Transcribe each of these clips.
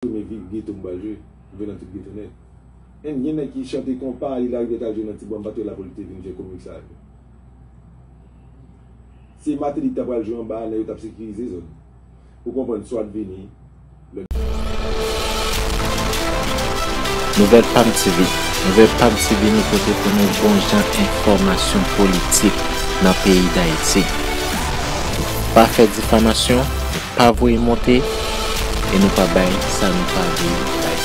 Premye vi ghetto m pral jwe, m jwe nan tout ghetto nèt. Anh gen nèg ki chante konpa li larive tal jwe nan ti bwa m pat wè la pou li te vin jwe komik sa yo. Se Martelly ki ta pral jwe anba a nèg yo tap sekirize zòn. Ou konprann Swat vini lè l. Nouvèl Pam TV, Nouvèl Pam TV nou pote pou nou bon jan enfòmasyon politik nan peyi Dayiti. Pa fè difamasyon. Pa voye monte e nou pa bay sa nou pa vle bay.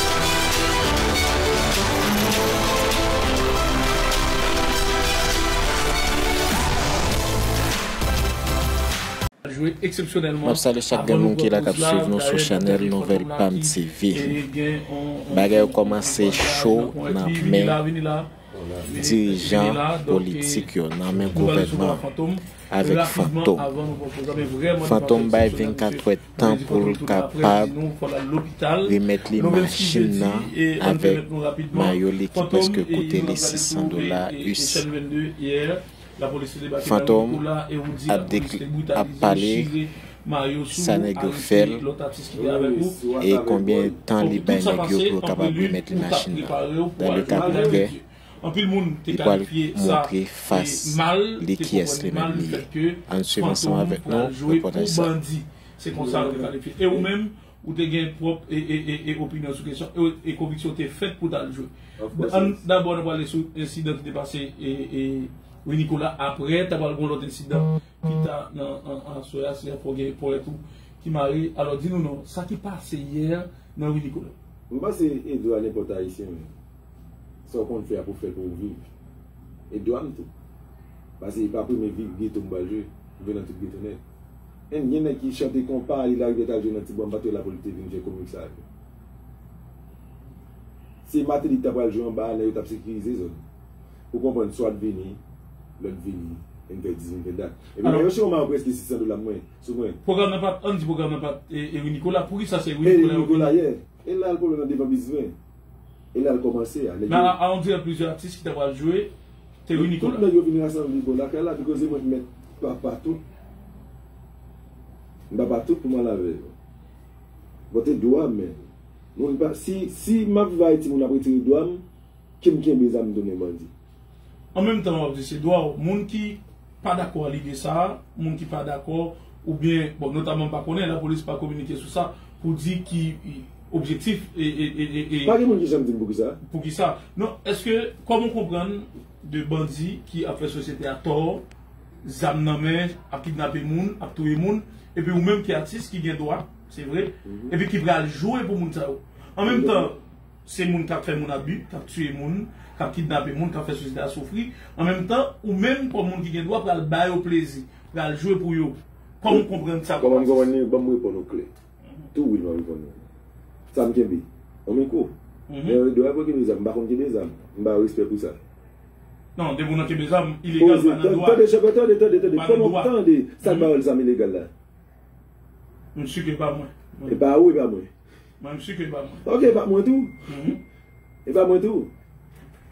Map salye chak gen moun ki la kap swiv nou sou chanèl nouvèl pam TV. Bagay yo kòmanse cho nan men. dirijan politik yo nan men gouvènman avèk fantom. Fantom bay 24 twè tan pou l kapab remèt li machin nan avèk mayo li ki prèske koute li 600 dola us. Fantom ap ap pale sa nèg yo fèl e konbyen tan li bay nèg yo pou yo kapab remèt li machin nan dan le ka kontrè li pwal montre fas li kiyès li menm li ye ann swiv ansanm avèk nou repòtaj sa. Ou te gen pwòp opinyon sou kesyon an e konviksyon w te fèt pou w t al jwe. Dabò nan pale sou ensidan ki te pase Rue Nicolas apre ta pral gen yon lòt ensidan pi ta nan aswè a se fò gen ponyèt ou ki mare. Alò di nou non sa ki pase yè nan Rue Nicolas. M panse e dwa nenpòt Ayisyen menm. Sa w konn fè a pou w fè pou w viv. E dwa m tou. Pase e pa premye geto m pral jwe. M jwe nan tout geto nèt. Anh gen nèg ki chante konpa il arrive tal jwe nan ti bwa m pa t yo la pou l te vin fè komik sa yo si Martelly t ta pral jwe anba a nèg yo t ap sekirize zòn ou konprann swat vini lòt vini e n fè 10 min fè dat epi nèg yo chewman preske 600 dola pou mwen sou mwen. Pwogram nan pat, ann di pwogram nan pat Ery Nicolas, poukisa se Ery Nicolas yo vini? Ery Nicolas ye, e la l pwoblèm nan devan bizwen. E lal komanse a neg yo. Nana a on dirè plizyè atis ki ta pral jwe te reni kou la. Tout neg yo vin rasanble bò lakay la bikoze mwen t met papa tout m papa tout pou m al avè yo. Bon te dwa men moun pa si si map vay timoun ap retire dwa m kem kenbe zam tounen bandi. An menm tan wap di se dwa w, moun ki pa dakò a lide sa a, moun ki pa dakò oubyen bon notaman m pa konnen, lapolis pa kominike sou sa pou di ki objektif e. Pa gen moun ki janm di m poukisa. Poukisa. Non, èske kòman w konprann 2 bandi ki ap fè sosyete a tò, zam nan men, ap kidnape moun, ap touye moun, epi ou menm ki atis ki gen dwa, se vre, epi ki pral jwe pou moun sa yo. An menm tan. Se moun kap fè moun abi, kap tiye moun, kap kidnape moun, kap fè sosyete a soufri. An menm tan, ou menm kòm moun ki gen dwa pral ba yo plezi, pral jwe pou yo. Kòman ou konprann sa kòm atis? Ban m reponn ou klè. Tou wi m ap reponn ou. Sa m kenbe? On mikwo. Men yo dwe aprann kenbe zam. M pa konn kenbe zam. M ba yo respè pou sa. Non, depi ou nan kenbe zam, ilegal pa nan dwa. Tande, chèf, tande, tande, tande. Fò m ap tande sa k ba yo zam ilegal la. M si ke pa mwen. E pa ou, e pa mwen. Mwen m si ke l pa mwen. Ok, e pa mwen tou. E pa mwen tou.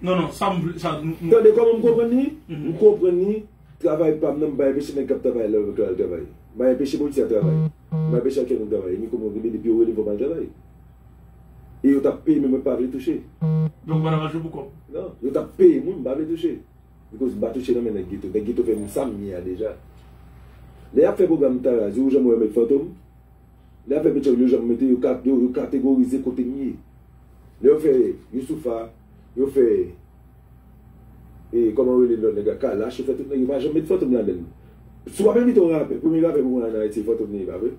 Non, non, sa m vle, sa nou. Tande kòman m konprann li? M konprann li, travay pa m nan m pa enpeche nèg k ap travay la al travay. M pa enpeche polisye a travay. M pa enpeche aktè nou travay. Ni kòman yo rele, depi yo rele m fò m al travay. E yo t ap peye m e mwen pa vle touche. Donk ou pa t ap achte pou kòb? Non, yo t ap peye m wi, m pa vle touche. Bikòz m pa touche nan men nèg geto. Nèg geto fè m sa m ye a deja. Lè y ap fè pwogram Tarazi, ou janm wè yo met Fantom? Lè afè peche yo yo janm mete yo yo kategorize kote m ye. Lè yo fè Youssoupha, yo fè e kòman yo rele lòt nèg la Kalash yo fè tout nèg yo pa janm met Fantom ladan l. Si w ap envite yon rapè, premye rapè pou mwen an Ayiti se Fantom li ye pa vre?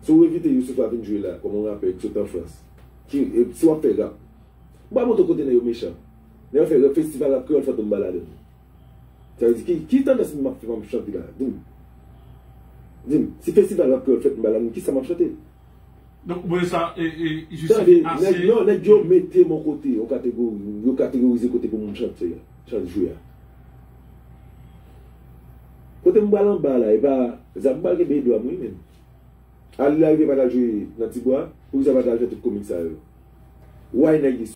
Si w envite Youssoupha vin jwe la kòm yon rapè ki sot an Frans ki si w ap fè rap m pa montre w kote nèg yo mechan. Lè yo fè festival rap kreyòl Fantom pa ladan l. Sa vle di ki ki tandans map fè map chante la dim dim si festival rap kreyòl fèt mba la moun kisa map chante. Donk mwen sa e e jis Tande ase. nèg non nèg yo mete m on kote on kategori yo kategorize kote pou moun chante a chante jwe a kote m pral anba la epa zam m pral kenbe edwa m wi menn Arly lariviere pat al jwe nan tibwa poukisa l pat al fè tout komik sa yo why nèg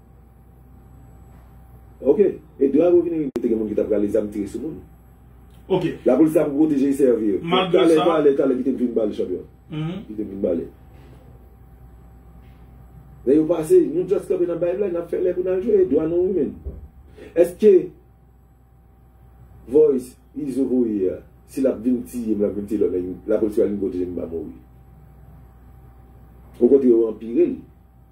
Ok e dwa yo vini rive te gen moun ki ta prale zam tire sou moun ok la polis ta pou proteje esèvi yo malgre sa talè talè kite m fin pale chanpyon kite m fin pale lè yo pase nou just kanpe nap bay blag nap fè lè pou nal jwe e dwa nou wi menn eske voice izo voye a si lap vin tiye m lap vin tiye lòt nèg la polis pral vin proteje m m pa mouri okontre yo anpire l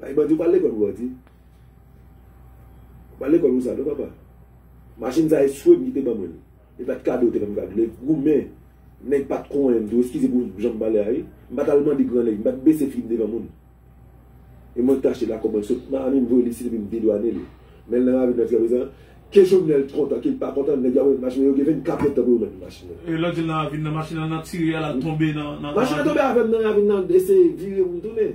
Bay bandi ou pa al lekol pou bandi. Ou pa al lekol pou sa non papa. Machin sa e swem ki te ban mwen li. E pat kado ou te banm kado. Lè goumen nèg pat konyen m tou eskize pou janm pale a wi. M pat al mande gran nèg, m pat bese figim devan moun. E mwen tache la kòman l sot. Miami m voye li isit epi m dedwane li. Men l nan ravin nan jiska prezan. Ke Jovenel t kontan ke l pa kontan nèg yo ap remet machin nan yo gen 24 èdtan pou yo remet m machin nan. E lè w di l nan ravin nan machin nan nan tire a la tonbe nan ravin nan. Machin nan tonbe avè m nan ravin nan l eseye vire pou m tounen.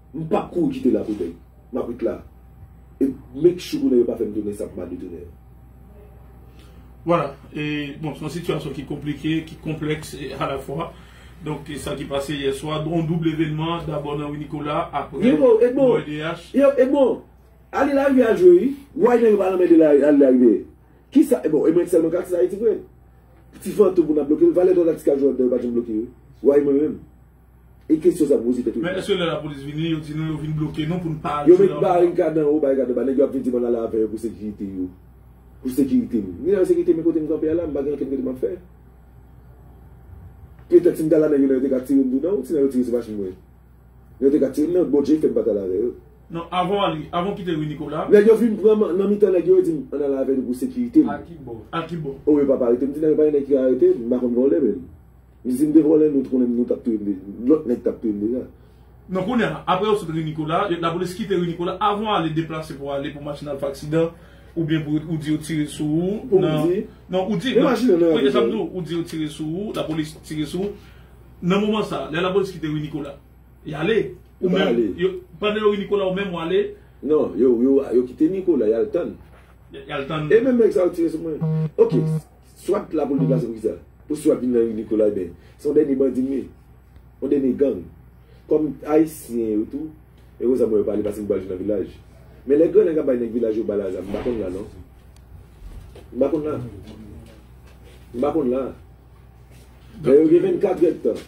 M pap kouri kite la pou bèk. M ap ret la. E make sure konnen yo pa fè m tounen sa pou m ale tounen an. Voilà. E bon, se yon sitiyasyon ki konplike, ki konplèks a la fwa. Donk, sa ki pase yè swa, yon doub levenman, dabò nan Ri Nikola, aprè Yo bon, Edmond! OLDH. Yo, Edmond! Ale la rivyè a jwe wi. Way nèg yo pa lanmède la ale la rivyè. Ki sa? E bon, e mwen k sèlman k aksè Ayiti vre? Ti fantom pou n ap bloke l. Valè dwa n ak ti kajou an dan yo pa janm bloke yo. Way mwen menm. E kesyon sa poze tèt ou. Men eske lè lapolis vini yo di nou yo vin bloke nou pou n pa al sou la ri. Yo met barikad anwo barikad anba nèg yo ap vin di mwen ale avè yo pou sekirite yo. Pou sekirite m. Ni nan sekirite men kote m kanpe a la m pa gen ankenn kote m ap fè. Petèt si m ta la nèg yo nan yo te ka tire m tou nan si nan yo tire sou machin mwen. Nan yo te ka tire m nan Bondje fè m pa t ale avè yo. Non avan w ale avan w kite ri Nikola. Nèg yo fin pran m nan mitan nèg yo yo di m ann ale avè nou pou sekirite m. A ki bò? A ki bò? O yo pap arete m di nan yo pa gen nèg ki ka arete m m pa konn vòlè menm. Li di m te vòlè nou t konnen m nou tap touye m deja lòt nèg tap touye m deja. Non kounya aprè yo sot ri Nikola, lapolis kite ri Nikola avan ale deplase pou ale pou machin al fè aksidan oubyen pou ou di yo tire sou ou nan non ou di oui esam di w ou di yo tire sou ou lapolis tire sou ou nan moman sa lè lapolis kite ri Nikola yale ou menm pandan yo ri Nikola ou menm wale non yo yo kite Nikola yal tann yal tann e menm nèg sa yo tire sou mwen ok. Swat la pou l deplase pou kisa? Pou swat vin nan ri Nikolay men se yon dènye bandi li ye. Yon dènye gang. Kòm ayisyen yo tou e konsa mwen yo pale paske m pral jwe nan vilaj. Men lè gran nèg ap bay nèg vilaj yo bal a zam m pa konn la non. M pa konn la. M pa konn la. Lè yo gen 24 èdtan.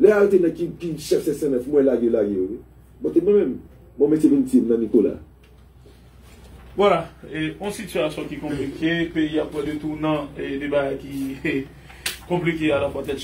Lè a yo te nèg ki ki chèf 509 mwen lage lage yo wi. Bon te mwen menm bon mesye vin tiye m nan Nicolas. Voilà, yon sitiyasyon ki konplike, peyi a pran 2 tounant, 2 bagay ki konplike alafwa tèt chaje.